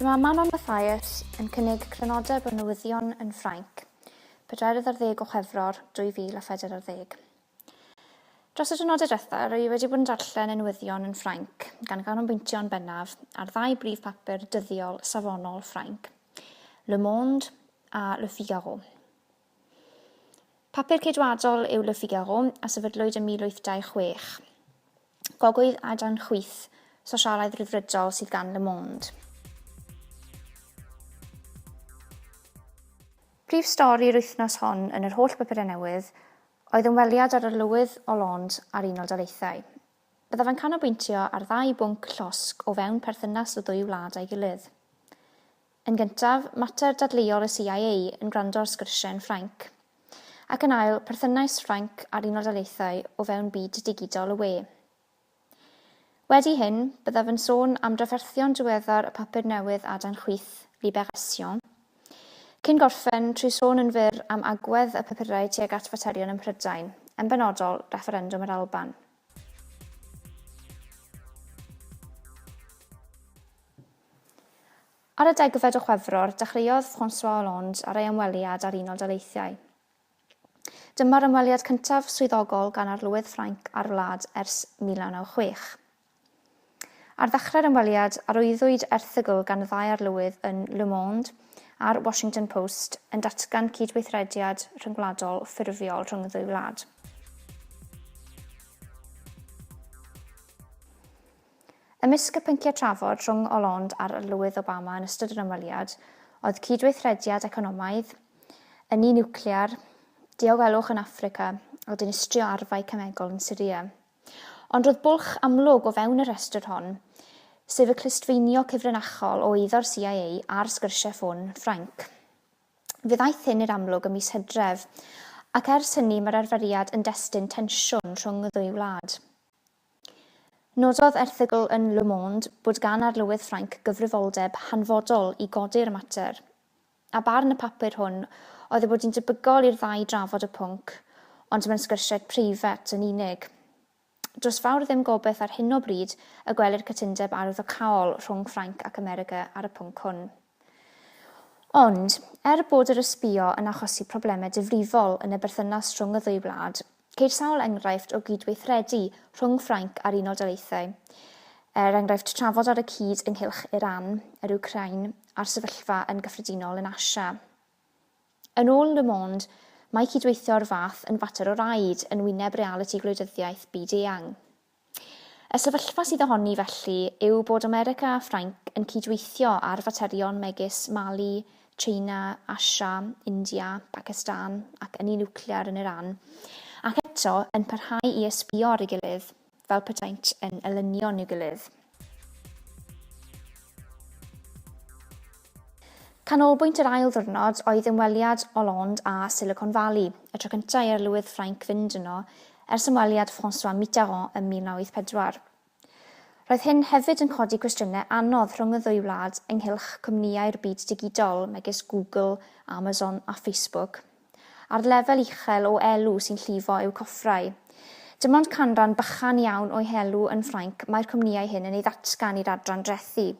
Dyma Manon Mathias yn cynnig crynodeb o newyddion yn Ffrainc, pedwerydd ar ddeg o Chwefror 2014. Dros y diwrnodau diwethaf, rwy i wedi bod yn darllen y newyddion yn Ffrainc, gan ganolbwyntio yn bennaf ar ddau brif bapur dyddiol safonol Ffrainc, Le Monde a Le Figaro. Papur ceidwadol yw Le Figaro a sefydlwyd ym 1826. Gogwydd a dan chwith sosialaidd rhyddfrydol sydd gan Le Monde. Prif stori'r wythnos hon yn yr holl bapurau newydd Oedd ymweliad â'r Arlywydd Hollande a'r Unol Daleithiau. Byddaf yn canolbwyntio ar ddau bwnc llosg o fewn perthynas y ddwy wlad â'i gilydd. Yn gyntaf, mater dadleuol y CIA yn gwrando ar sgyrsiau yn Ffrainc. Ac yn ail, perthynais Ffrainc a'r Unol Daleithiau o fewn byd digidol y we. Wedi hyn, byddaf yn sôn am drafferthion diweddar y papur newydd Adain Chwith, Libération, cyn gorffen trwy sôn yn fyr am agwedd y papurau tuag at faterion ym Mhrydain, yn benodol, refferendwm yr Alban. Ar y degfed o Chwefror, dechreuodd François Hollande ar ei ymweliad â'r Unol Daleithiau. Dyma'r ymweliad cyntaf swyddogol gan Arlywydd Ffrainc â'r wlad ers 1996. Ar ddechrau'r ymweliad, arwyddwyd erthygl gan y ddau arlywydd yn Le Monde a'r Washington Post yn datgan cydweithrediad rhyngwladol ffurfiol rhwng y ddwy wlad. Ymysg y pynciau trafod rhwng Hollande a'r Arlywydd Obama yn ystod yr ymweliad oedd cydweithrediad economaidd, ynni niwclear, diogelwch yn Affrica a dinistrio arfau cemegol yn Syria. Ond roedd bwlch amlwg o fewn y rhestr hon, sef y clustfeinio cyfrinachol o eiddo'r CIA a'r sgyrsiau ffôn Ffrainc. Fe ddaeth hyn i'r amlwg ym mis Hydref, ac ers hynny mae'r arferiad yn destun tensiwn rhwng y ddwy wlad. Nododd erthygl yn Le Monde bod gan Arlywydd Ffrainc gyfrifoldeb hanfodol i godi'r mater, a barn y papur hwn oedd ei bod hi'n debygol i'r ddau drafod y pwnc, ond mewn sgyrsiau preifat yn unig. Does fawr ddim gobaith ar hyn o bryd y gwelir cytundeb arwyddocaol rhwng Ffrainc ac America ar y pwnc hwn. Ond, er bod yr ysbïo yn achosi problemau difrifol yn y berthynas rhwng y ddwy wlad, ceir sawl enghraifft o gydweithredu rhwng Ffrainc a'r Unol Daleithiau, er enghraifft trafod ar y cyd ynghylch Iran, yr Wcráin a'r sefyllfa yn gyffredinol yn Asia. Yn ôl Le Monde, mae cydweithio o'r fath yn fater o raid yn wyneb realiti gwleidyddiaeth byd-eang. Y sefyllfa sydd ohoni felly yw bod America a Ffrainc yn cydweithio ar faterion megis Mali, China, Asia, India, Pakistan ac ynni niwclear yn Iran, ac eto yn parhau i ysbïo ar ei gilydd fel petaent yn elynion i'w gilydd. Canolbwynt yr ail ddiwrnod oedd ymweliad Hollande â Silicon Valley, y tro cyntaf i arlywydd Ffrainc fynd yno ers ymweliad François Mitterrand ym 1984. Roedd hyn hefyd yn codi cwestiynau anodd rhwng y ddwy wlad ynghylch cwmnïau'r byd digidol, megis Google, Amazon a Facebook. a'r lefel uchel o elw sy'n llifo eu coffrau. Dim ond canran bychan iawn o'u helw yn Ffrainc mae'r cwmnïau hyn yn ei ddatgan i'r adran drethi.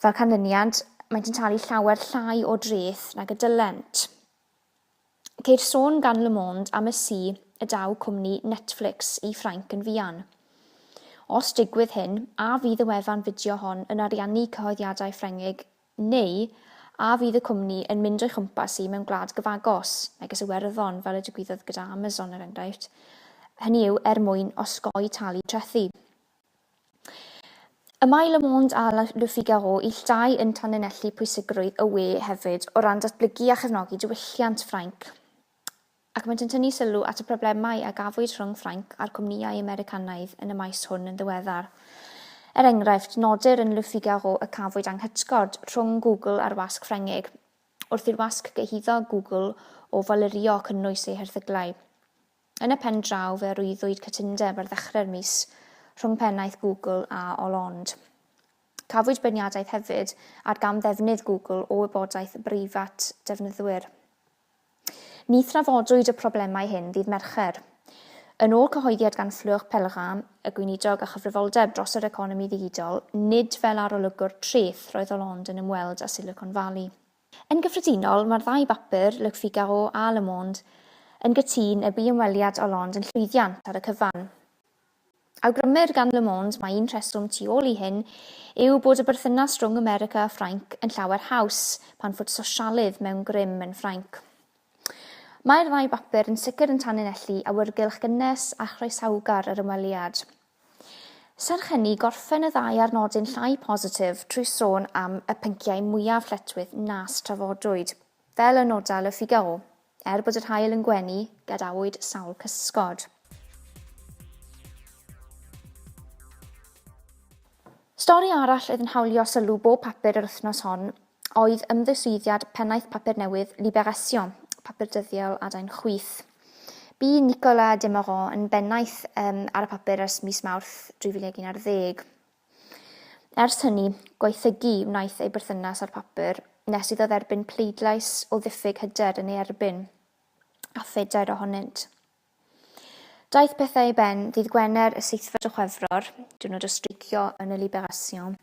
Fel canlyniad, maent yn talu llawer llai o dreth nag y dylent. Ceir sôn gan Le Monde am y si y daw cwmni Netflix i Ffrainc yn fuan. Os digwydd hyn, a fydd y wefan fideo hon yn ariannu cyhoeddiadau Ffrengig Neu, a fydd y cwmni yn mynd o'i chwmpas hi mewn gwlad gyfagos, megis Iwerddon, fel y digwyddodd gyda Amazon, er enghraifft, hynny yw, er mwyn osgoi talu trethi? Y mae Le Monde a Le Figaro ill dau yn tanlinellu pwysigrwydd y we hefyd o ran datblygu a chefnogi diwylliant Ffrainc. ac maent yn tynnu sylw at y problemau a gafwyd rhwng Ffrainc a'r cwmnïau Americanaidd yn y maes hwn yn ddiweddar. Er enghraifft, nodir yn Le Figaro y cafwyd anghytgord rhwng Google a'r wasg Ffrengig wrth i'r wasg gyhuddo Google o falirio cynnwys ei herthyglau. Yn y pen draw, fe arwyddwyd cytundeb ar ddechrau'r mis rhwng pennaeth Google a Hollande. Cafwyd beirniadaeth hefyd ar gamddefnydd Google o wybodaeth breifat defnyddwyr. Ni thrafodwyd y problemau hyn ddydd Mercher. Yn ôl cyhoeddiad gan Fleur Pellerin, y Gweinidog â chyfrifoldeb dros yr economi ddigidol, nid fel arolygwr treth roedd Hollande yn ymweld â Silicon Valley. Yn gyffredinol, mae'r ddau bapur, Le Figaro a Le Monde, yn cytun y bu ymweliad Hollande yn llwyddiant ar y cyfan. Awgrymir gan Le Monde mai un rheswm tu ôl i hyn yw bod y berthynas rhwng America a Ffrainc yn llawer haws pan fod sosialydd mewn grym yn Ffrainc. Mae'r ddau bapur yn sicr yn tanlinellu awyrgylch gynnes a chroesawgar yr ymweliad. Serch hynny, gorffen y ddau ar nodyn llai positif trwy sôn am y pynciau mwyaf lletchwith nas trafodwyd. Fel y noda Le Figaro, Er bod yr haul yn gwenu, gadawyd sawl cysgod. Stori arall oedd yn hawlio sylw bob papur yr wythnos hon oedd ymddiswyddiad pennaeth papur newydd Libération, papur dyddiol adain chwith. Bu Nicolas Demorand yn bennaeth um, ar y papur ers mis Mawrth 2011. Ers hynny, gwaethygu wnaeth ei berthynas â'r papur, nes iddo dderbyn pleidlais o ddiffyg hyder yn ei erbyn, a phedair ohonynt. Daeth pethau i ben ddydd Gwener y seithfed o Chwefror, diwrnod o streicio yn y Libération,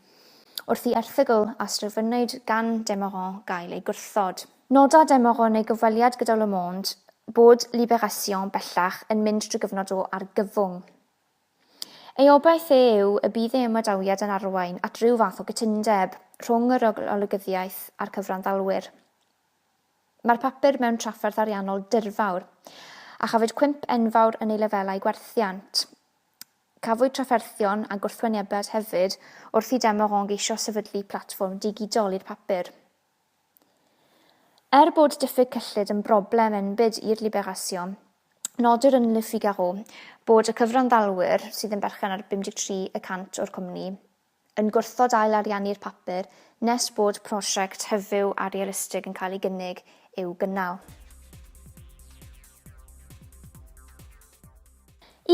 wrth i erthygl a sdrefynnwyd gan Demorand gael ei gwrthod. Noda Demorand yn ei gyfweliad gyda Le Monde bod Libération bellach yn mynd drwy gyfnod o argyfwng. Ei obaith e yw y bydd ei ymadawiad yn arwain at ryw fath o gytundeb rhwng yr olygyddiaeth a'r cyfranddalwyr. Mae'r papur mewn trafferth ariannol dirfawr, a chafwyd cwymp enfawr yn ei lefelau gwerthiant. Cafwyd trafferthion a gwrthwynebiad hefyd wrth i Demoron geisio sefydlu platfform digidol i'r papur. Er bod diffyg cyllid yn broblem enbyd i'r Libération, nodir yn Le Figaro bod y cyfranddalwyr, sydd yn berchen ar 53 y cant o'r cwmni, yn gwrthod ail-ariannu'r papur nes bod prosiect hyfyw a realistig yn cael ei gynnig i'w gynnal.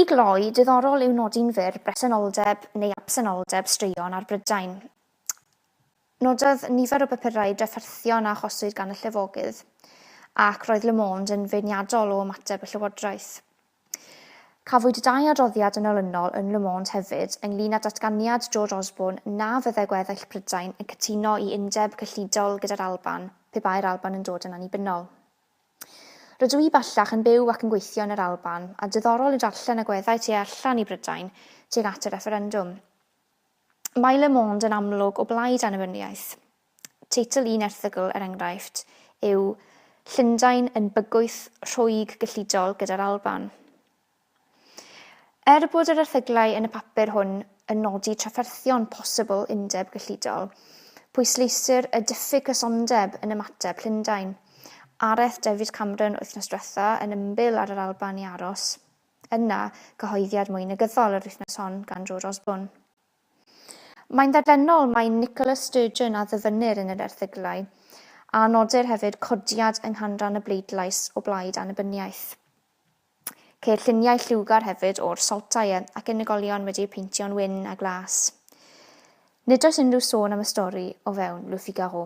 I gloi, diddorol yw nodi'n fyr bresenoldeb neu absenoldeb straeon ar Brydain. Nododd nifer o bapurau drafferthion a achoswyd gan y llefogydd, ac roedd Le Monde yn feirniadol o ymateb y llywodraeth. Cafwyd dau adroddiad yn olynol yn Le Monde hefyd ynglŷn â datganiad George Osborne na fyddai gweddill Prydain yn cytuno i undeb cyllidol gyda'r Alban pe bai'r Alban yn dod yn annibynnol. Rydw i bellach yn byw ac yn gweithio yn yr Alban, a diddorol yw darllen agweddau tu allan i Brydain tuag at y refferendwm. Mae Le Monde yn amlwg o blaid annibyniaeth. Teitl un erthygl, er enghraifft, yw Llundain yn bygwth rhwyg gyllidol gyda'r Alban. Er bod yr erthyglau yn y papur hwn yn nodi trafferthion posibl undeb gyllidol, pwysleisir y diffyg cysondeb yn ymateb Llundain. Areth David Cameron wythnos diwetha yn ymbil ar yr Alban i aros. yna gyhoeddiad mwy negyddol yr wythnos hon gan George Osborne. Mae'n dderfynol mai Nicola Sturgeon a ddyfynnir yn yr erthyglau, a nodir hefyd codiad yng nghanran y bleidlais o blaid annibyniaeth. Ceir lluniau lliwgar hefyd o'r Saltair ac unigolion wedi eu peintio'n wyn a glas. Nid oes unrhyw sôn am y stori o fewn Le Figaro.